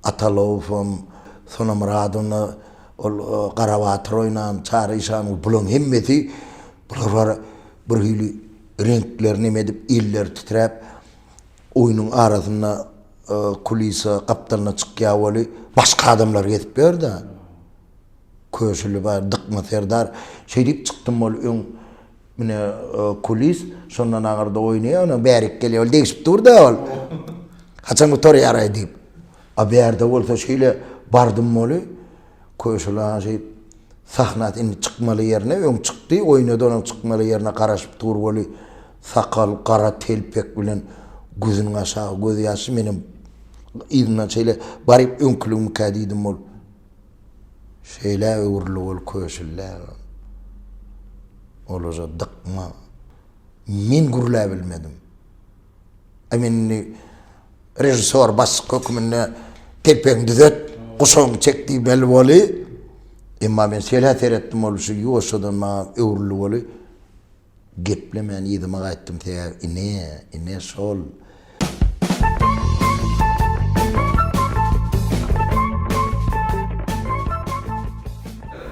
Atalowam, Sonamyradowna, ol Garabatyr oýnan, Çary işan, bularyň hemmesi, bular bir hili reňkleri neme edip, elleri titräp, Oýnuň arasynda kulisa gapdalyna çykýar weli, başga adamlar gezip ýör-de. Köşüli bar, Dykma serdar. Şeýdip çykdym weli öň ine kulis, şondan aňyrda oýnaýar, ondan bärik gelýär. Ol degşip dur-da ol. Haçan gutarýar-aý diýip. A bärde bolsa şeýle bardym weli, Köşüli aga şeýdip sahna indi çykmaly ýerine öň çykdy, oýnady, onuň çykmaly ýerine garaşyp dur weli, Sakal, gara telpek bilen gözüniň aşagy gözýaşy, menem yzyndan şeýle baryp öňküligimikä diýdim, ol şeýlä öwrülip ol köşüldäň olaja dykma. Men gürläbilmedim. Aý men indi režissýor başlyk höküminde telpegiňi düzet, guşagyňy çek diýmeli boli. Emma men şeýle seretdim ol şu ýuwaşjadan maňa öwrülip oli. Geplemän yzyma gaýtdym säher ine, ine şol.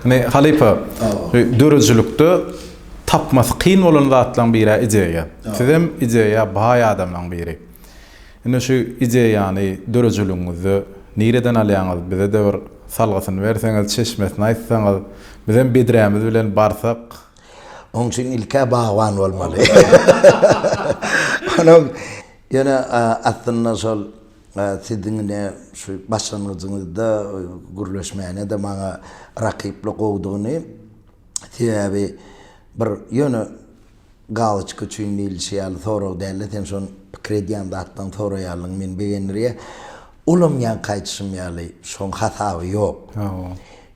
Ine halypa, döredijilikde tapmasy kyn bolan zatlaryň biri-ä ideýa. Sizem ideýa baý adamlaryň biri. Ine şu ideýany döredijiligiňizde nireden alýaňyz, bize-de bir salgysyny berseňiz, çeşmesini aýtsaňyz, bizem bedrämiz bilen barsak, Oň üçin ilk-ä bagban bolmaly. Onuň ýöne aslynda şol siziň ine şu başlangyjyňyzda gürleşmäne-de maňa rakyply gowudygyny, sebäbi bir ýöne galoçka üçin diýlişi ýaly sorag däl-de, sen şony pikir edýän zatdan soraýanlygyň meni begendirýär. Olam ýaňky aýdyşym ýaly şoň hasaby ýok.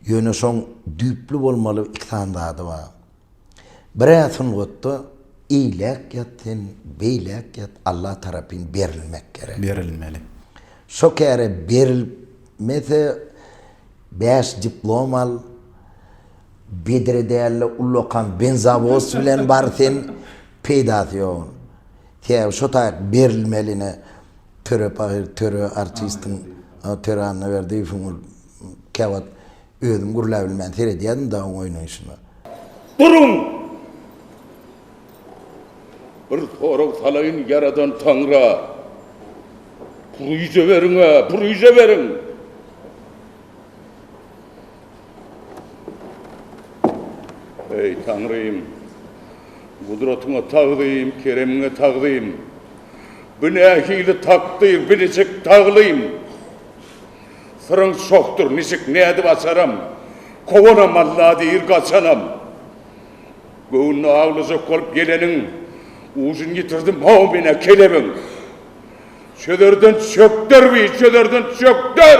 Ýöne şoň düýpli bolmaly iki sany zady bar. Bir-ä sungatda eýläk ýat sen, beýläk ýat Alla tarapyn berilmek gerek. Berilmeli. Şo käre berilmese bäş diplom al, bedre däl-de ullakan benzowoz bilen bar sen, peýdasy ýok onuň. Sebäbi şo taýyk berilmeli ine. Töre pahyr, töre artistiň, Töre Annaberdiýewiň ol käwagt özüm gürläbilmän seredýärdim dagy onuň oýnaýşyna. Duruň! Bir sorag salaýyn Ýaradan Taňra. Pürüje beriň-ä, pürüje beriň! Eý, Taňrym! Gudratyňa tagzym, keremiňe tagzym! Bu nähili takdyr, bu niçik taglym? Syryň çohdur, niçik, nädip açaram? Kowanam Alla diýr, gaçanam. Göwnüni awlajak bolup geleniň, ujun ýitirdim, hawa, men-ä kelebiň! Çözerden çökder bi, çözerden çökder!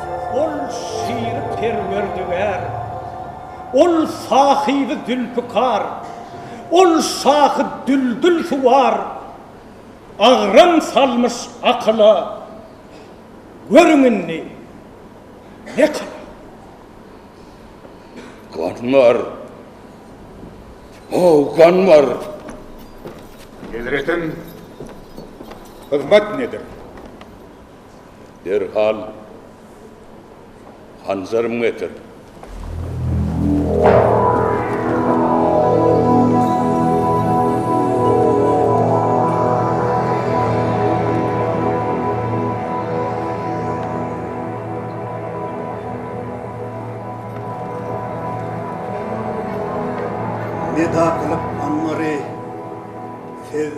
Ol şyr perwerdigär, Ol sahyby zülpükar, Ol şahy düldül suwar, Agram salmyş akyla, Görüň indi ne kylar. Gan bar, ho, gan bar! Hezretiň hyzmat nedir? Derhal hanjarymy getir! Nida kylyp anmary siz?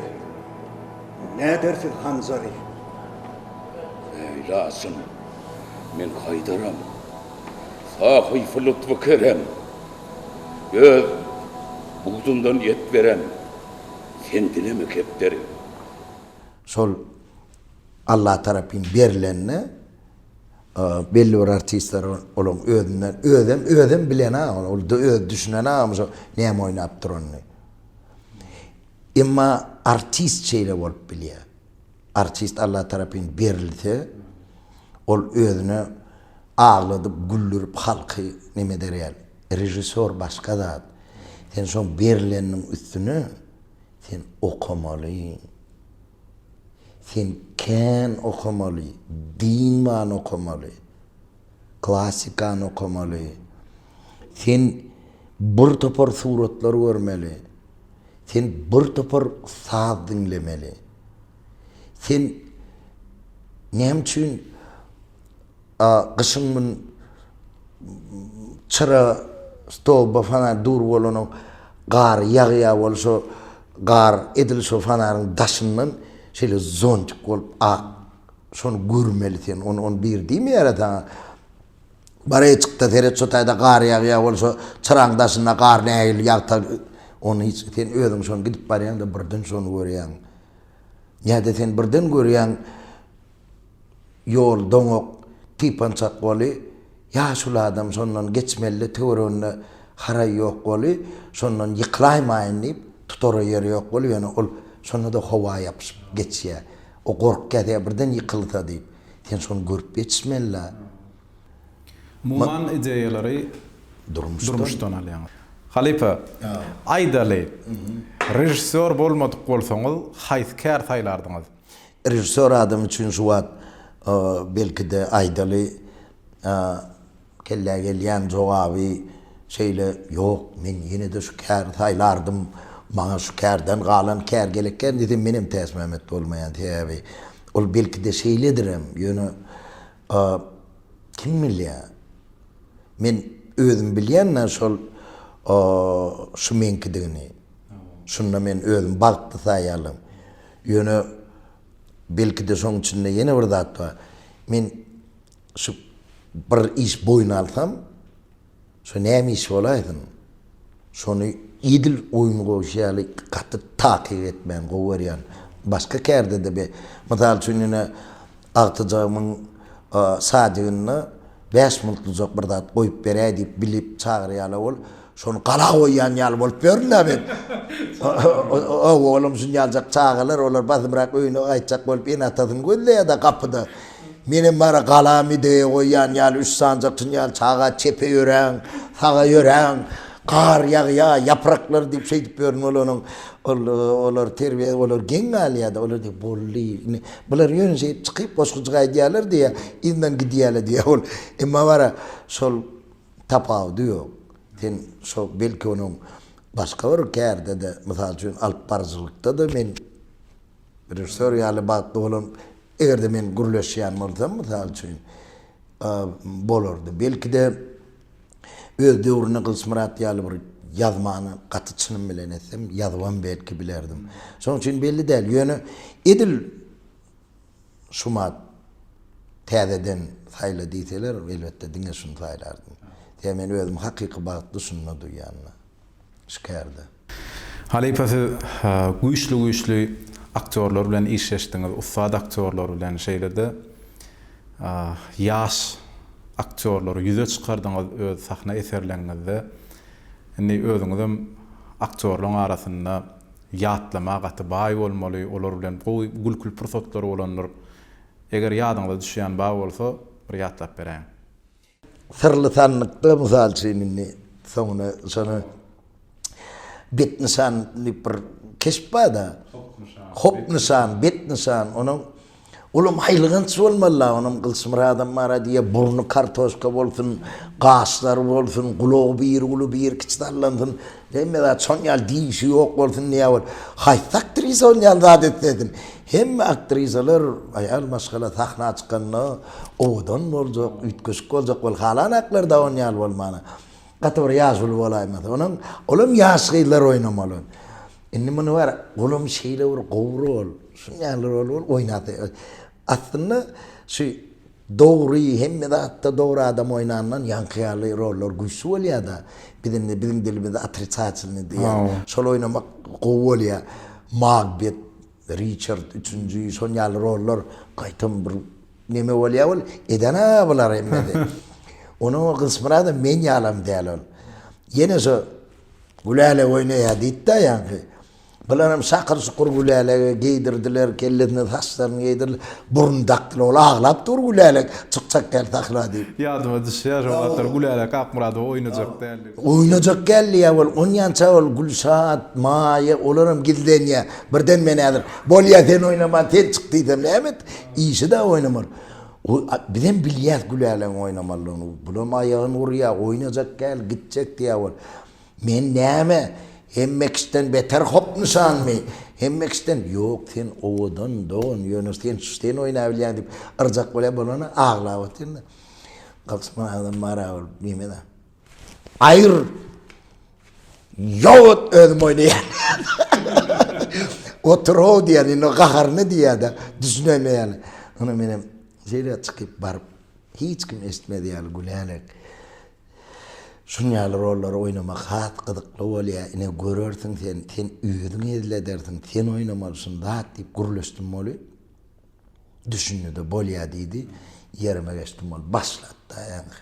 Nädersiň, Hanzali? Leýlasyn men gaýdaryn. Sahypy lutfy kerem öz budundan et beren Fendinemi kepderiň. Şol Alla tarapyn berlende belli bir artistler olaň özünden özem özem bilen-ä ol özem düşünen-ä näme oýnap duranyny. Emma artist şeýle bolup bilýär. Artist Alla tarapyn berilse, ol özüne agladyp, güldürip halky neme eder ýaly. Režissýor başga zat. Sen şoň berileniniň üstüne sen okamaly. Sen kän okamaly, dynman okamaly. Klassikany okamaly. Sen bir topar suratlar görmeli. Sen bir topar saz diňlemeli. Sen näme üçin gyşyň gün çyra stoba fonar dur bolanok, gar ýagýar bolup şo gar edil şo fonaryň daşyndan şeýle zontik bolup ak Şony görmeli sen, ony, ony bir diýmeýärä saňa. Bar-eý, çyk-da seret, şu taýda gar ýag ýa ol şo çyragyň daşynda gar nähili ýagta, ony hiç, sen özüň şony gidip barýaň-da birden şony görýäň. Nä-de sen birden görýäň, ýol doňak, typançak boly, ýaşuly adam şondan geçmeli-de töwereginde haraý ýok boly, şondan ýykylaýmaýyn diýip, tutara ýer ýok boly, ýöne ol şonda-da howa ýapyşyp geçýä. O gorkýa-da, birden ýykylsa diýip. Sen şony görüp ýetişmeli-dä. Muman ideýalary durmuşdan alýaňyz. Halypa, aýdaly, režissýor bolmadyk bolsaňyz, haýsy kär saýlardyňyz? Režissýor adam üçin şu wagt, belki-de, aýdaly, Kellä gelýän jogaby şeýle, Ýok, men ýene-de şu käri saýlardym. Maňa şu kärden galan kär gerek kän diýsem menem täsmämet bolmaýan. Sebäbi ol belki-de şeýledirem. Ýöne kim bilýär. Men özüm bilýän-ä şol şu meňkidigini. Şunda men özüm bagtly saýýarlym. Ýöne belki-de şoň içinde ýene bir zat bar. Men. Şu bir iş boýun alsam, şu näme iş bolaýsyn, şony edil oýun goýşy ýaly gaty takyk etmäni gowy görýän. Başga kärde-de be, mysal üçin ine agtyjagymyň sadygynda bäş minutlyjak bir zat goýup beräý diýip bilip çagyrýala ol. Şony gala goýýan ýaly bolup ýörün-dä men. Ho-ho, oglum, şunja aljak çagalar, olar basymrak öýüne gaýtjak bolup ene-atasyny gözleýär-dä gapyda. Menem bara gala mideýe goýýan ýaly üç sanjak tunýan çaga çepe ýöräň, saga ýöräň, gar ýagýar, ýapraklar diýip şeýdip ýörün olaryň. Ol, olar terbiýe, olar geň galýar-da, olar diýýär, boldy, ine, bular ýöne şeýdip çykyp, goşgujyk aýdýarlar diýýär, yzyndan gidýärler diýýär ol. Emma bara şol Tapawudy ýok. Sen şo belki onuň başga bir kärde-de, mysal üçin, alypbaryjylykda-da men režissýor ýaly bagtly bolan, eger-de men gürleşýän bolsam, mysal üçin, bolardy. Belki-de, öz döwründe Gylyçmyrat ýaly bir ýazmany gaty çynym bilen etsem, ýazybam belki bilerdim. Şonuň üçin belli däl. Ýöne edil. Şumat täzeden saýla diýseler, elbetde diňe şuny saýlardym. Sebäbi men özümi hakyky bagtly şunda duýýan-da. Şikärde. Halypa siz güýçli güýçli aktýorlar bilen işleşdiňiz, ussat aktýorlar bilen, şeýle-de ýaş aktýorlary ýüze çykardyňyz öz sahna eserleňňizde. Indi özüňizem aktýorlaň arasynda Ýatlama gaty baý bolmaly, olar bilen gowy gülküli pursatlary bolandyr. Eger ýadyňyza düşýän bar bolsa, bir ýatlap beräýiň. Syrly sanlykda, mysal üçin, indi soňuna şony Bet nyşan diýip bir keşp bar-da. Hop nyşan. Hop nyşan, Bet nyşan, onuň Olam aýylganç bolmaly-la onam Gylyçmyradam bar-a diýýä, burny kartoşka bolsun, gaşlary bolsun, gulagy bir uly, bir kiçi sallansyn, hemme zat şon ýaly dişi ýok bolsun diýýä ol. Haýsy aktrisa ol ýaly zat etsedim? Hemme aktrisalar aýal maşgala sahna çykanda owadan boljak, üýtgeşik boljak bol, halanaklar-da on ýaly bolmana. Gaty bir ýaş uly bolaýmasa. Onam, olam ýaş gyzlar oýnamaly. Indi muny bar, olam şeýle bir gowry ol. Şuň ýaly rol ol oýnap. Aslynda şu dogry hemme zatda dogry adam oýnandan ýaňky ýaly rollar güýçli bolýada. Biz indi biziň dilimizde otricatelnyý diýýär. Şol oýnamak gowy bolýa. Magbet, Riçard üçünji şon ýaly rollar gaýtam bir neme bolýa ol edena bular hemmesi. Onuň o Gysmyradam men ýalam däl ol. Ýene şu Gülälek oýnaýa diýipda ýaňky. Bularam şakyr-şukur Gülälege geýdirdiler, kellesine saçlaryny geýdirdiler, burun dakdylar. Ol aglap dur Gülälek çykjak däl sahra diýip. Ýadyma düşýär, şo wagtlar Gülälek Akmyradowa oýnajak däldi. Oýnajak däldi ýa ol, onýança ol Gülşat, Maýa, olaram gizlenýär. Birden men häzir, Bolýa sen oýnama, sen çyk diýsem näme et? Işi-de oýnamaly. Bizem bilýäs Gülälegiň oýnamalydygyny. Bulam aýagyny urýar, oýnajak däl, gitjek diýýär ol. Men näme, Hemmekişden beter hopnyşanmy? Hemmekişden, Ýok, sen owadan, dogan, ýöne sen şu sen oýnabilýäň diýip, yrjak bolýan bolany aglap otyryn-da. Gysma adam mara bolup diýme-de. Aýr, Ýowut özüm oýnaýan. Otur-ow diýýän, indi gaharyny diýýä-de, düşünemeýän. Ony menem şeýle çykyp baryp. Hiç kim eşitmez ýaly gülälek. Şun ýaly rollary oýnamak has gyzykly bolýar. Ine, görersiň sen, sen özüň hezil edersiň, sen oýnamaly şun zat diýip gürleşdim weli, düşündi-de, bolýa diýdi. Ýerime geçdim weli, başlady-da ýaňky.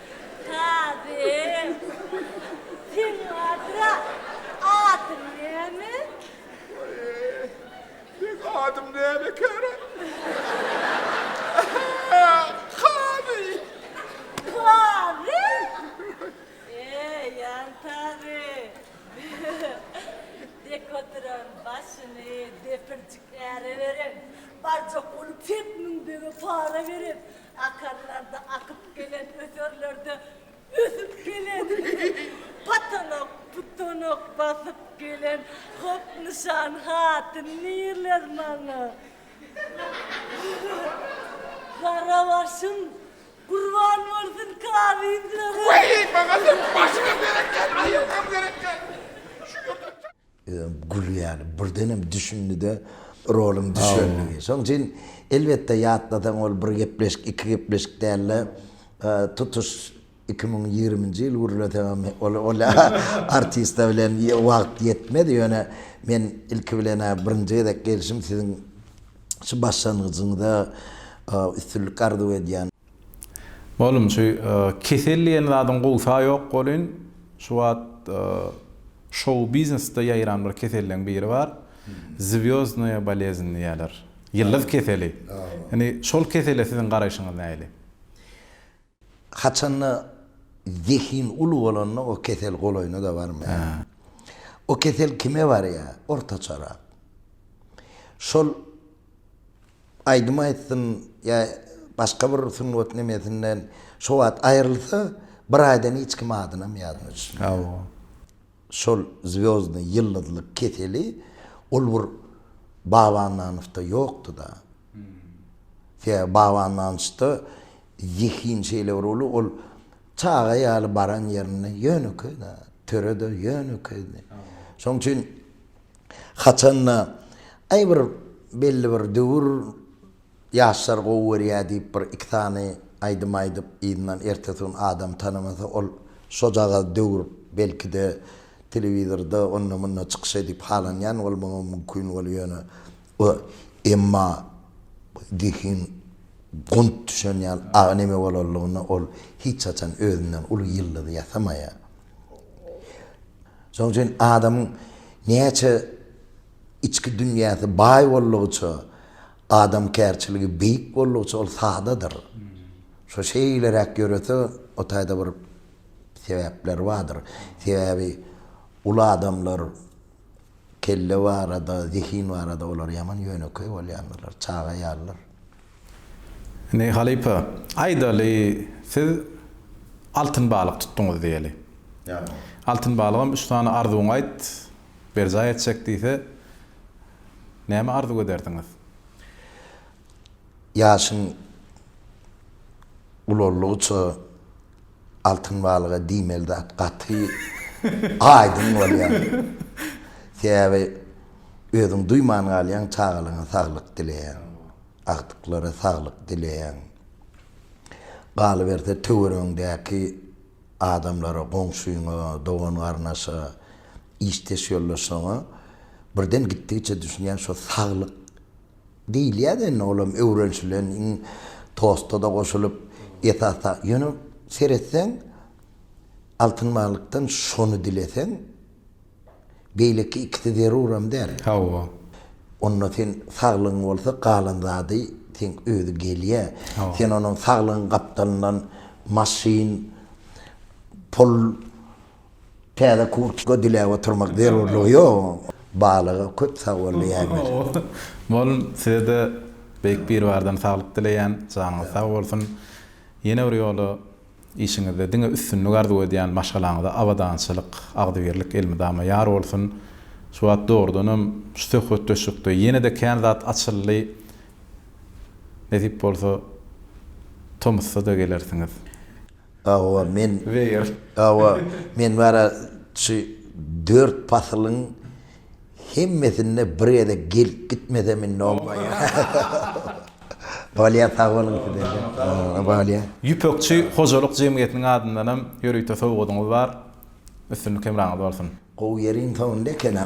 Sazym, seň bardyr-a, adyň näme? Meň adym näme ekeni? Ähä, Kazy! Kazy? Eý, ýantagy! Dek oturan başyny depirjik äre berip, barjak bolup Pek Müň bege para berip, Akarlarda akyp gelen, öserlerde ösüp gelen, patanok, putanok basyp gelen hop nyşan hatyn nirler maňa? Gara başym gurban bolsun kazyjygyň. Weý, maňa sen başga gerek däl, aýylgam gerek däl. Şu ýerde. Özem gülýän. Birdenem düşündi-de, roluň düşenligi. Şonuň üçin, elbetde, ýatlasaň, ol bir gepleşik, iki gepleşik däl-de, tutuş iki müň ýigriminji ýyl gürleseňem, ol artista bilen wagt ýetmez. Ýöne men ilki bilen-ä birinji gezek gelşim, siziň şu başlangyjyňyza üstünlik arzuw edýän. Oglum, şu kesel diýen zadyň gowsa ýok bolyn, şu wagt şou-biznesde ýaýran bir keselleň biri bar, zwýozdnaýa boleznn diýýärler, ýyldyz keseli. Indi şol kesele siziň garaýşyňyz nähili? Haçanda zehin uly bolanda o kesel golaýyna-da barmaýar. O kesel kime barýar? Ortaçarak. Şol. aýdym aýtsyn ýa başga bir sungat nemesinden şo wagt aýrylsa, bir aýdan hiç kim adynam ýazmajak. Hawa. Şol zwýozdnyý ýyldyzlyk keseli ol bir Babandanowda ýokdy-da. Sebäbi Babandanowda zehin şeýle bir uly, ol çaga ýaly baran ýerinde ýönekeý-de, töre-de ýönekeýdi. Şonuň üçin Haçan-da, Aý, bir belli bir döwür ýaşlar gowy görýär diýip, bir iki sany aýdym aýdyp, yzyndan ertesi gün adam tanamasa, ol şojagaz döwür belki-de telewizorda, onda-munda çykyş edip halanýan bolmagy mümkin bolup ýöne o emma zehin gunt düşen ýaly agy neme bolanlygyna ol hiç haçan özünden uly ýyldyzy ýasamaýar. Şonuň üçin adamyň näçe içki dünýäsi baý boldugyça, adamkärçiligi beýik boldugyça ol sadadyr. Şo şeýleräk ýörese, o taýda bir sebäpleri bardyr. Sebäbi uly adamlar kelle barada, zehin barada olar ýaman ýönekeý bolýandyrlar, çaga ýalydyr. Indi halypa, aýdaly, siz altyn balyk tutduňyz diýeli. Ýa. Altyn balygam üç sany arzuwyňy aýt, berjaý etjek diýse, näme arzuw ederdiňiz? Ýaşyň ulaldygyça altyn balyga diýmeli zat gaty aýdyň bolýar. Sebäbi özüň duýman galýaň, çagalaryňa saglyk dileýän. agtyklara saglyk dileýän. Galyberse töweregiňdäki adamlara, goňşyňa, dogan-garnaşa, işdeş ýoldaşlaryňa birden gitdigiçe düşünýän şo saglyk diýilýär-de indi olam öwrenşilen iň tosta-da goşulyp esasda ýöne seretseň Altyn baglykdan şony dileseň, Beýleki ikisi zeruram däl. Hawa. Onda sen saglygyň bolsa galan zady seň özi gelýä. Hawa. Sen onuň saglygyň gapdalyndan maşyn, pul, täze kurtka diläp oturmak zerurlygy ýok. Balyga köp sagbol diýäýmeli. Molum size-de Beýik Biribardan saglyk dileýän. Janyňyz sag bolsun. Ýene bir ýola Işiňizde diňe üstünlik arzuw edýän maşgalaňyza abadançylyk agzybirlik elmydama ýar bolsun. Şu wagt dogrudanam şu söhbetdeşlikde ýenede kän zat açyldy nesip bolsa tomusda-da gelersiňiz. Hawa men hawa men bara şu dört pasylyň Hemmesinde bir gezek gelip gitmesem indi onbaýa. Bolýa sag boluň size. Bolýa. Ýüpekçi hojalyk jemgyýetiniň adyndanam ýörite sowgadyňyz bar. Üstünlik hemraňyz bolsun. Gowy ýeriň soňunda ekenem.